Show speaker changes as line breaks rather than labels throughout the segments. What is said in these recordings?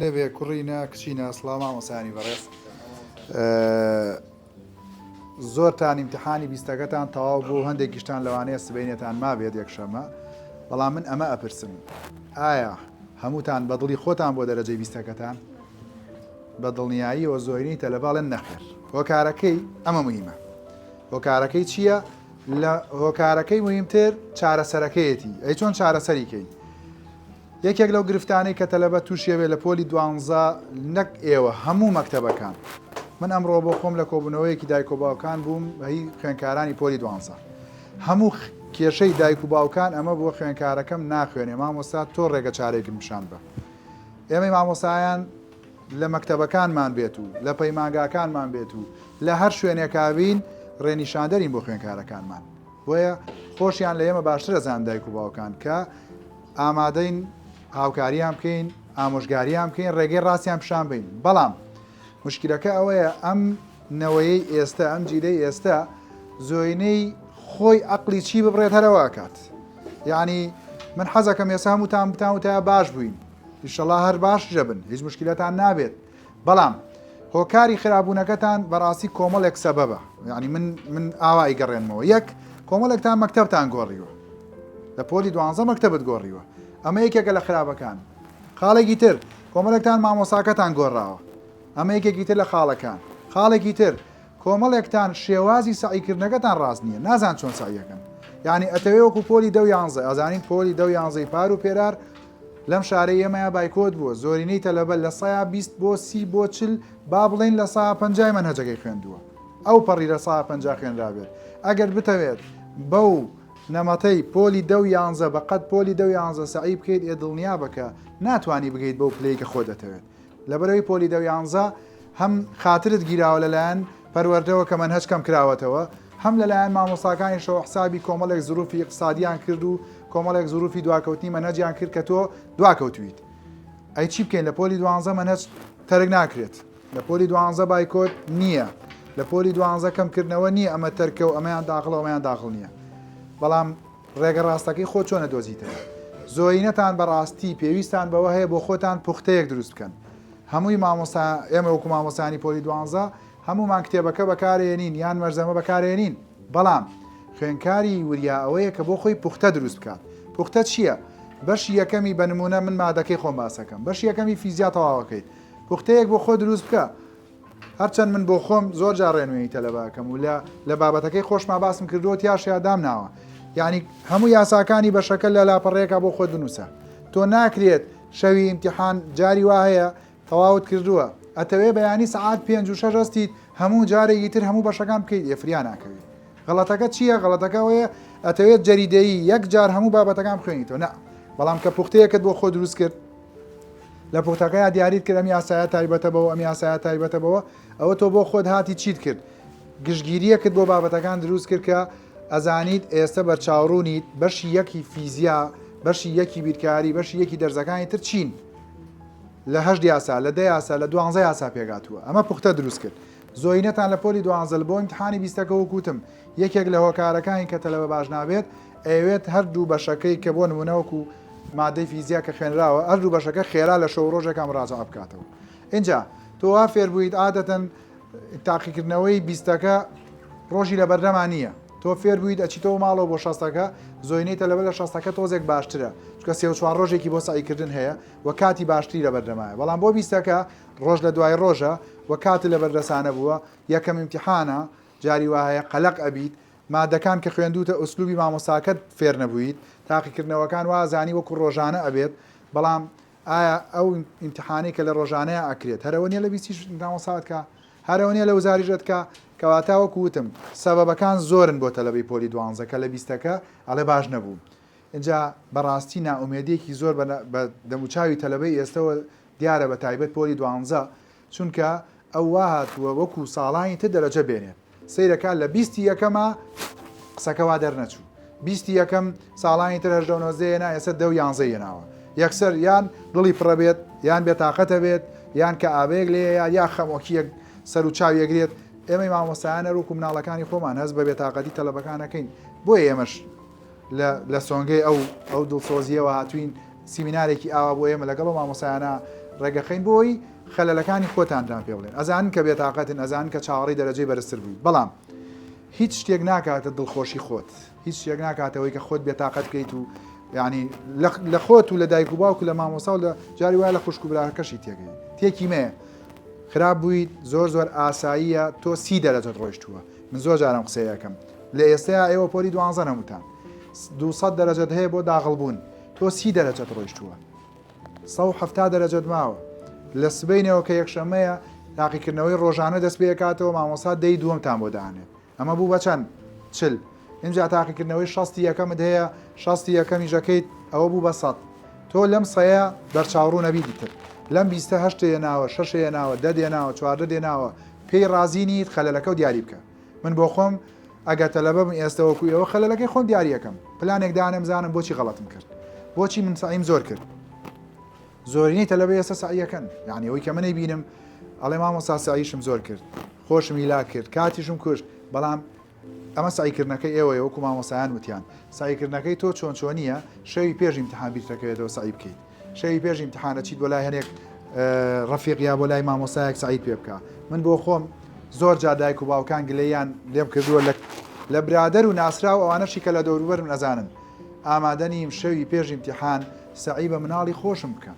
لێبێ کوڕی نا کچی نا سڵاو مامۆسانی بەڕێز زۆرتان ئیمتحانی بیستەکەتان تەواو بوو هەندێک گشتان لەوانەیە سبینێتان ما بێت یەکشەمە بەڵام من ئەمە ئەپرسم ئایا هەمووتان بەدڵی خۆتان بۆ دەرەجەی بیستەکەتان بە دڵنیاییەوە زۆرینی تەلەباڵێن نەخێر هۆکارەکەی ئەمە مهمە هۆکارەکەی چییە لە هۆکارەکەی مهمتر چارەسەرەکەیەتی ئەی چۆن چارەسەریکەین یەکێک لەو گرفتانەی کە تەلەبە تووشی ئەبێت لە پۆلی دوانزە نەک ئێوە هەموو مەکتەبەکان من ئەمڕۆ بۆ خۆم لە کۆبوونەوەیەکی دایک و باوکان بووم هی خوێنکارانی پۆلی دوانزە هەموو کێشەی دایک و باوکان ئەمە بۆ خوێنکارەکەم ناخوێنێ مامۆستا تۆ ڕێگە چارێکم پیشان بە ئێمەی مامۆسایان لە مەکتەبەکانمان بێت و لە پەیمانگاکانمان بێت و لە هەر شوێنێکاوین ڕێنیشاندەرین بۆ خوێنکارەکانمان بۆیە خۆشیان لە ئێمە باشتر ئەزانن دایک و باوکان کە ئامادەین هاوکاریان بکەین ئامۆژگاریان بکەین ڕێگەی ڕاستیان پیشان بین بەڵام مشکلەکە ئەوەیە ئەم نەوەیەی ئێستا ئەم جیلەی ئێستا زۆینەی خۆی ئەقلی چی ببڕێت هەرەوە ئەکات یعنی من حەزەکەم ێسا هەمووتان بتان وتە باش بووین ئیشەڵا هەر باش ژەبن هیچ مشکلەتان نابێت بەڵام هۆکاری خرابوونەکەتان بەڕاستی کۆمەڵێک سەبەبە یعنی من من ئاوا ئیگەڕێنمەوە یەک کۆمەڵێکتان مەکتتەبتان گۆڕیوە لە پۆلی دوانزە مەکتتەبت گۆڕیوە ئەمە یەکێکە لە خراپەکان خاڵێکی تر کۆمەڵێکتان مامۆساکەتان گۆڕاوە ئەمە یەکێکی تر لە خاڵەکان خاڵێکی تر کۆمەڵێکتان شێوازی سعیکردنەکەتان ڕاست نییە نازان چۆن سعیەکەن یعنی ئەتەوێ وەکو پۆلی دە یانزە ئەزانین پۆلی دە یانزەی پار و پێرار لەم شارەی ئێمەیا بایکۆت بووە، زۆرینەی تەلەبە لە سەیا بیست بۆ سی بۆ چل با بڵێین لە سەیا پەنجای مەنهەجەکەی خوێندووە، ئەو پەڕی لە سەیا پەنجا خوێنرابێت، ئەگەر بتەوێت بەو نەمەتەی پۆلی دە و یانزە بە قەد پۆلی دە و یانزە سەعی بکەیت ئێ دڵنیابە کە ناتوانی بگەیت بەو پلەی کە خۆ دەتەوێت. لەبەرەوەی پۆلی دە و یانزە هەم خاترت گیراوە لەلایەن پەروەردەوە کە مەنهەج کەم کراوەتەوە هەم لەلایەن مامۆستاکانیشەوە حسابی کۆمەڵێک زروفی اقتصادیان کرد و کۆمەڵێک زروفی دواکەوتنی مەنهەجیان کرد کە تۆ دواکەوتویت ئەی چی بکەین لە پۆلی دوانزە مەنهەج تەرک ناکرێت لە پۆلی دوانزە بایکۆت نییە لە پۆلی دوانزە کەمکردنەوە نییە ئەمە تەرکە و ئەمەیان داخڵەوەیان داخڵ نییە بەڵام ڕێگە ڕاستەکەی خۆت چۆن ئەدۆزیتەوە؟ زۆرینەتان بەڕاستی پێویستان بەوە هەیە بۆ خۆتان پوختەیەک دروست بکەن. هەمووی مامۆستا ئێمە وەکو مامۆستایانی پۆلی دوانزە هەموومان کتێبەکە بەکارێنین یان مەرزەمە بەکارێنین بەڵام خوێنکاری وریا ئەوەیە کە بۆ خۆی پوختە دروست بکات پوختە چییە؟ بەشی یەکەمی بە نمونە من مادەکەی خۆم باسەکەم بەشی یەکەمی فیزیا تەواوەکەیت پوختەیەک بۆ خۆ دروست بکە هەرچەند من بۆ خۆم زۆر جا ڕێنوێنی تەلەبەکەم و لە لە بابەتەکەی خۆشما باسم کردووە تیاشیا دامناوە یعنی هەموو یاساکانی بە شەکە لە لاپەڕێکە بۆ خۆت بنووسە تۆ ناکرێت شەوی امتحان جاری وا هەیە تەواوت کردووە ئەتەوێ بەیانی سعات پێ و شەش هەستیت هەموو جارێکی تر هەموو بەشەکان بکەیت ئێفریا ناکەوێت غڵەتەکە چییە غڵەتەکەەوەیە ئەتەوێت جەریدەیی یەک جار هەموو بابەتەکان بخوێنیتەوە نە بەڵام کە پوختەیەکت بۆ خۆ دروست کرد لە پوختەکەیا دیاریت کرد ئەم یاسایە تایبەتە بەوە ئەم یاسایە تایبەتە بەوە ئەوە تۆ بۆ خۆت هاتی چیت کرد گشتگیریەکت بۆ بابەتەکان دروست کرد کە ئەزانیت ئێستا بەرچاوڕوونیت بەشی یەکی فیزیا بەشی یەکی بیرکاری بەشی یەکی دەرزەکانی تر چین لە هەشت یاسا لە دە یاسا لە دوانزە یاسا پێگاتووە ئەمە پوختە دروست کرد زۆینەتان لە پۆلی دوانزل بۆ امتحانی بیستەکە وکوتم یەکێک لە هۆکارەکانی کە تەلەبە باش نابێت ئەیەوێت هەر دوو بەشەکەی کە بۆ نموونە وەکو مادەی فیزیا کە خوێنراوە هەر دوو بەشەکە خێرا لە شەو ڕۆژێکا مراجعە بکاتەوە ئینجا تۆ وا فێر بوویت عادەتەن تاقیکردنەوەی بیستەکە ڕۆژی لە بەردەما نییە تۆ فێر بوویت ئەچیتەوە ماڵەوە بۆ شەستەکە زۆینەی تەلەبە لە شەستەکە تۆزێک باشترە چکە سێ چوار ڕۆژێکی بۆ سعیکردن هەیە و کاتی باشتری لە بەردەمایە بەڵام بۆ بیستەکە ڕۆژ لە دوای ڕۆژە و کاتی لە بەردەسانە بووە یەکەم امتحانە جاری وهەیە قەلق ئەبیت مادەکان کە خوێندوتە ئسلوبی مامۆستاکەت فێر نەبویت تاقیکردنەوەکان وازانی وەکو ڕۆژانە ئەبێت بەڵام ئایا ئەو ئیمتحانەی کە لە ڕۆژانەیە ئەکرێت هەرەوە نیە لە بیستیش مامۆسات کە هەرەوە نیە لە وزاریش ئەتکا کەواتە وەکو وتم سەبەبەکان زۆرن بۆ تەلەبەی پۆلی دوانزە کە لە بیستەکە ئەڵێ باش نەبوو ئینجا بەڕاستی نائومێدیەکی زۆر بە دەموچاوی تەلەبەی ئێستەوە دیارە بە تایبەت پۆلی دوانزە چونکە ئەو وا هاتووە وەکو ساڵانی تر دەرەجە بێنێت سەیرە کا لە بیستی یەکەمە قسەکە وا دەرنەچوو بیستی یەکەم ساڵانی تر هەژدە و نۆزدەیە نا ئێستا دە و یانزە یەناوە یەکسەر یان دڵی پڕە بێت یان بێتاقەتە بێت یان کە ئابەیەک لێ یا یا خەمۆکیەک سەر و چاو یەگرێت ئێمەی مامۆستایانە روک و مناڵەکانی خۆمان هەست بە بێتاقەتی تەلبەکانەکەین بۆیە ئێمەش لە سۆنگەی ئەو ئەو دڵسۆزییەوە هاتووین سیمینارێکی ئاوا بۆ ئێمە لەگەڵ ئەو مامۆسایانە ڕێگەخەین بۆی خەلەلەکانی خۆتاندران پێ بڵێن ئەزان کە بێتاقەتن ئەزان کە چاوەڕی دەرەجەی بەرزتر بووی بەڵام هیچ شتێک ناکاتە دڵخۆشی خۆت هیچ شتێک ناکاتەوەی کە خۆت بێتاقەت بکەیت و ینی لە خۆت و لە دایک و باوکو لە مامۆسا و لە جاری وایە لە خوشک و براکەشی تێگەی تێکی مەیە خراپ بوویت زۆر زۆر ئاساییە تۆ سی دەرەجەت ڕۆیشتووە من زۆر جارم قسەی ئەکەم لە ئێستەیا ئێوە پۆلی دوانزەن هەمووتان دوو سەد دەرەجەت هەیە بۆ داغڵ بوون تۆ سی دەرەجەت ڕۆیشتووە سەد و حەفتا دەرەجەت ماوە لە سبەینەوە کە یەکشەمەیە تاقیکردنەوەی ڕۆژانە دەست پێ کاتەوە مامۆستا دەی دووەمتان بۆ دانێ ئەمە بوو بەچەند چل اینجا تاقیکردنەوەی شەستی یەکەمت هەیە شەستی یەکەمی ژەکەیت ئەوە بوو بە سەد تۆ لەم سەیە بەرچاوڕوو نەبی دیتر لەم بیستە هەشتەیە ناوە شەشەیە ناوە دە دێناوە چواردە دێناوە پێی ڕازی نیت خەلەلەکەو دیاری بکە من بۆخۆم ئەگەر تەلەبەبم ئێستە وەکو ئێوە خەلەلەکەی خۆم دیاریەکەم پلانێک دانێم بزانم بۆچی غەڵەتم کرد بۆچی من سعیم زۆر کرد زۆرینەی تەلەبە ئێستا سعیەکەن یعنی ئەوەی کە منەی بینم ئەڵێ مامۆستا سعیشم زۆر کرد خۆشم هیلا کرد کاتیشم کوشت بەڵام ئەمە سەعیکردنەکەی ئێوەیە وەکو مامۆستایان وتیان سەعیکردنەکەی تۆ چۆن چۆنیە شەوی پێش ئیمتحان بیرتەکەوێتەوە سەعی بکەیت شەوی پێش ئیمتحان ئەچیت بۆ لای هەنێک ڕەفیق یا بۆ لای مامۆستایەک سەعیت پێ بکە من بۆ خۆم زۆر جا دایک و باوکان گلەیان لێم کردووە لە لە برادەر و ناسرا و ئەوانەشی کە لە دەوروبەرم ئەزانن ئامادە نیم شەوی پێش ئیمتحان سەعی بە مناڵی خۆشم بکەم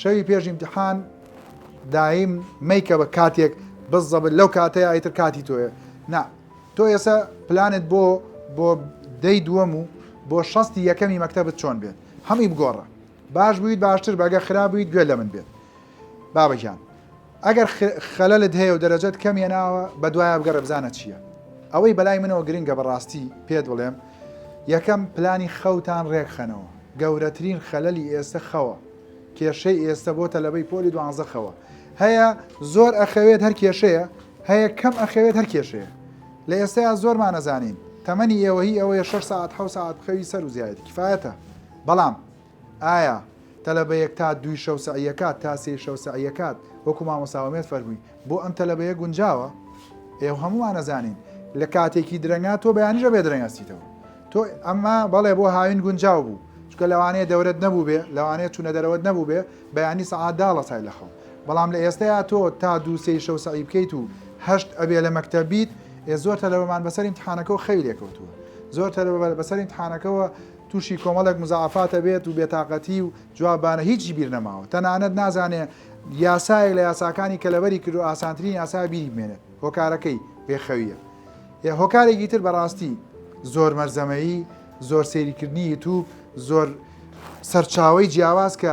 شەوی پێش ئیمتحان دایم مەیکە بە کاتێک بزەبت لەو کاتەیە ئیتر کاتی تۆیە نا تۆ ئێستا پلانت بۆ بۆ دەی دووەم و بۆ شەستی یەکەمی مەکتتەبت چۆن بێت هەمی بگۆڕە باش بوویت باشتر بەگە خرابوویت گوێ لە من بێت بابەجان ئەگەر خەلەلت هەیە و دەرەجەت کەم هێناوە بەدوایا بگەڕێ بزانە چییە ئەوەی بەلای منەوە گرنگە بەڕاستی پێت بڵێم یەکەم پلانی خەوتان رێکخەنەوە گەورەترین خەلەلی ئێستە خەوە کێشەی ئێستە بۆ تەلەبەی پۆلی دوانزە خەوە هەیە زۆر ئەخەوێت هەر کێشەیە هەیە کەم ئەخەوێت هەر کێشەیە لە ئێستەیە زۆرمان نەزانین تەمەنی ئێوەهی ئەوەیە شەش ساعت حە ساعت بخەوی سەر و زیایت کفاەتە بەڵام ئایا تەلەبە یەک تا دووی شەو سەعیەکات تا سێی شەو سەعیەکات وەکو مامۆستا ئومێد فەرمووی بۆ ئەم تەلەبەیە گونجاوە ئێوە هەموومان ئەزانین لە کاتێکی درەنگا تۆ بەیانیش ئەبێ درەنگ ئەستیتەوە تۆ ئەمە بەڵێ بۆ هاوین گونجاو بوو چونکە لەوانەیە دەورەت نەبووبێ لەوانەیە چوونە دەرەوەت نەبووبێ بەیانی سەعات دا هەڵەسای لە خەو بەڵام لە ئێستەیا تۆ تا دوو سێی شەو سەعی بکەیت و هەشت ئەبێ لە مەکتەب بیت ئێ زۆر تەلەبەمان بەسەر ئیمتحانەکەوە خەوی لێ کەوتووە زۆر تەلەبە بەسەر ئیمتحانەکەوە توشی کۆمەڵێک مزاعەفات ئەبێت و بێتاقەتی و جوابانە هیچی بیر نەماوە تەنانەت نازانێ یاسایەک لە یاساکانی کە لەبەری کردو ئاسانترین یاسایە بیری بمێنێت هۆکارەکەی بێ خەویە یە هۆکارێکی تر بەڕاستی زۆر مەرزەمەیی زۆر سەیری کردنی یوتوب زۆر سەرچاوەی جیاواز کە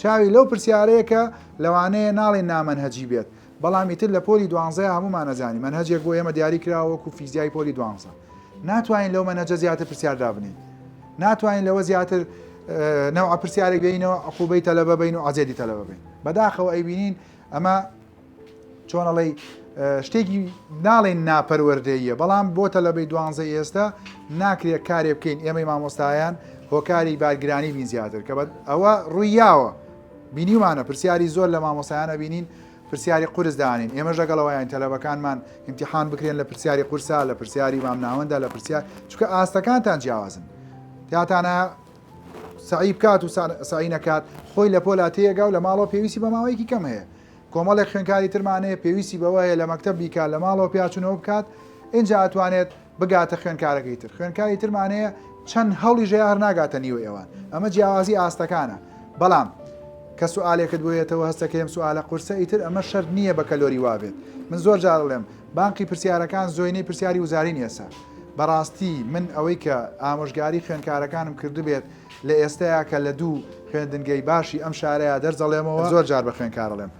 چاوی لەو پرسیارەیە کە لەوانەیە ناڵێین نامەنهەجی بێت، بەڵام ئیتر لە پۆلی دوانزەیا هەموومان ئەزانین مەنهەجێک بۆ ئێمە دیاری کراوە وەکو فیزیای پۆلی دوانزە ناتوانین لەو مەنهەجە زیاتر پرسیار دابنێین ناتوانین لەوە زیاتر نەوع پرسیارێک بینەوە عقوبەی تەلەبە بین و عزێدی تەلەبە بین بەداخەوە ئەیبینین ئەمە چۆن ئەڵێی شتێکی ناڵێن ناپەروەردەیە بەڵام بۆ تەلەبەی دوانزە ئێستا ناکرێت کارێ بکەین ئێمەی مامۆستایان هۆکاری بارگرانی بین زیاتر کە بە ئەوە ڕوویاوە بینیمانە پرسیاری زۆر لە مامۆسایانە بینین پرسیاری قرس دانین ئێمە ژەگەڵەوەیان تەلەبەکانمان امتحان بکرێن لە پرسیاری قورسا لە پرسیاری مامناوەندا لە پرسیار چکە ئاستەکانتان جیاوازن تاتانە سەعی بکات و سەعی نەکات خۆی لە پۆلا تێگا و لە ماڵەوە پێویستی بە ماوەیەکی کەم هەیە کۆمەڵێک خوێنکاری ترمانەیە پێویستی بەوەیە لە مەکتب بیکات لە ماڵەوە پیاچونەوە بکات اینجا ئەتوانێت بگاتە خوێنکارەکەی تر خوێنکاری ترمانەیە چەند هەڵی ژێ هەر ناگاتە نیوە ئێوان ئەمە جیاوازی ئاستەکانە بەڵام کە سوالێکت بۆیەتەوە هەستەکەم سوالە قورسە ئیتر ئەمە شەر نییە بە کەلۆری وابێت من زۆر جارڵێم بانقی پرسیارەکان زۆینەی پرسیاری وزارین ئێسە بەراستی من ئەوەی کە ئامۆژگاری خوێنکارەکانم کردبێت لە ئێستەیا کە لە دوو خوێندنگەی باشی ئەم شارەیا دەرجەڵێمەوە زۆر جار بە خوێنکارەڵێم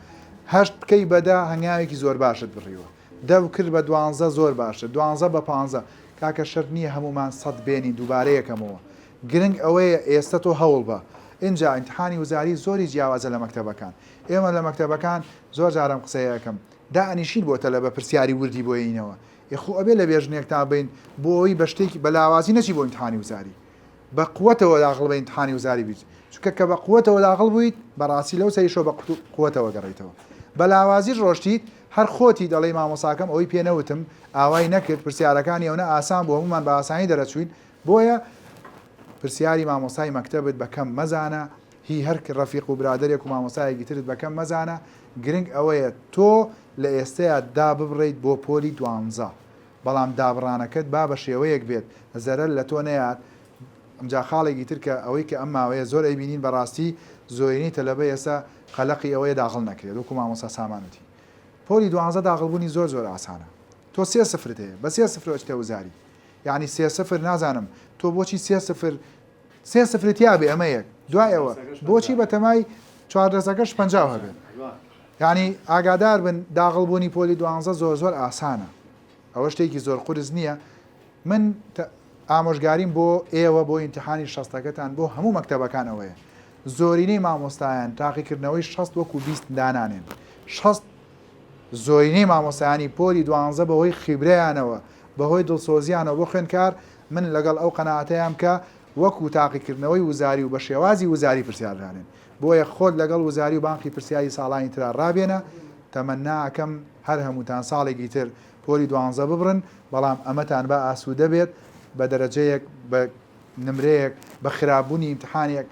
هەشت بکەی بە دە هەنگاوێکی زۆر باشت بڕیوە دەو کرد بە دوانزە زۆر باشتر دوانزە بە پانزە کاکە شەرت نییە هەموومان سەد بێنین دووبارەیەکەمەوە گرنگ ئەوەیە ئێستە تۆ هەوڵ بە ئینجا ئینتحانی وزاری زۆری جیاوازە لە مەکتەبەکان ئێمە لە مەکتەبەکان زۆر جارم قسەیەکەم دائەنیشین بۆ تەلەبە پرسیاری وردی بۆ ینینەوە ئێ خۆ ئەبێ لە بێ ژنێکتان بین بۆ ئەوەی بە شتێکی بە لاوازی نەچی بۆ ئیمتحانی وزاری بە قوەتەوە داخڵ بە ئیمتحانی وزاری بیت چونکە کە بە قوەتەوە داخڵ بوویت بەڕاستی لەو سەریشەوە بە قوەتەوە گەڕیتەوە بە لاوازیش ڕۆشتیت هەر خۆتی دەڵێی مامۆساکەم ئەوەی پێ نەوتم ئاوای نەکرد پرسیارەکانی ئەونە ئاسان بۆ هەمومان بە ئاسانی دەرەچوین بۆیە پرسیاری مامۆسای مەکتەبت بەکەم مەزانە هی هەر رەفیق و برادەرێک و مامۆستایەکی ترت بە کەم مەزانە، گرنگ ئەوەیە تۆ لە ئێستەیا داببڕێیت بۆ پۆلی دوانزە، بەڵام دابڕانەکەت با بە شێوەیەک بێت زەرەر لە تۆ نەیات، جا خاڵێکی تر کە ئەوەی کە ئەم ماوەیە زۆر ئەیبینین بەڕاستی زۆرینەی تەلەبە ئێستا قەلەقی ئەوەیە داغڵ نەکرێت وەکو مامۆستا سامان وتی پۆلی دوانزە داغڵ بوونی زۆر زۆر ئاسانە تۆ سێ سفرت هەیە بە سێ سفرەوە ئەچیتە وزاری یانی سێ سفر نازانم تۆ بۆچی سێ سفر سێ سفری تیا بێ ئەمە یەک دوای ئەوە بۆچی بەتەمای چواردەسەکەش پەنجاو هەبێ یعنی ئاگادار بن داغڵ بوونی پۆلی دوانزە زۆر زۆر ئاسانە ئەوە شتێکی زۆر قرس نییە من ئامۆژگاریم بۆ ئێوە بۆ ئینتحانی شەستەکەتان بۆ هەموو مەکتتەبەکان ئەوەیە زۆرینەی مامۆستایان تاقیکردنەوەی شەست وەکو بیست دانانێن شەست زۆرینەی مامۆستایانی پۆلی دوانزە بەهۆی خیبرەیانەوە بەهۆی دڵسۆزیانەوە بۆ خوێندکار من لەگەڵ ئەو قەناعەتەیام کە وەکو تاقیکردنەوەی وزاری و بە شێوازی وزاری پرسیار دانێن بۆیە خۆت لەگەڵ وزاری و بانقی پرسیاری ساڵانی ترا ڕابێنە تەمەننا ئەکەم هەر هەمووتان ساڵێکی تر پۆلی دوانزە ببڕن بەڵام ئەمەتان با ئاسوودە بێت بە دەرەجەیەک بە نمرەیەک بە خراپ بوونی ئیمتحانێک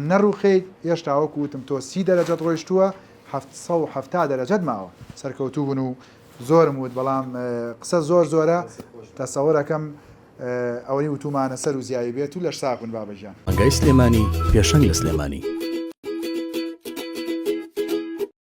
نەڕوخیت هێشتا وەکو وتم تۆ سی دەرەجەت ڕۆیشتووە حەفت سەد و حەفتا دەرەجەت ماوە سەرکەوتوو بن و زۆرم وت بەڵام قسە زۆر زۆرە تەسەور ئەکەم ئەوەی
وتومانە
سەر و زیاوی
بێت
و لەش ساغ بن بابە
گیان.
ڕێگای سلێمانی پێشەنگ لە سلێمانی.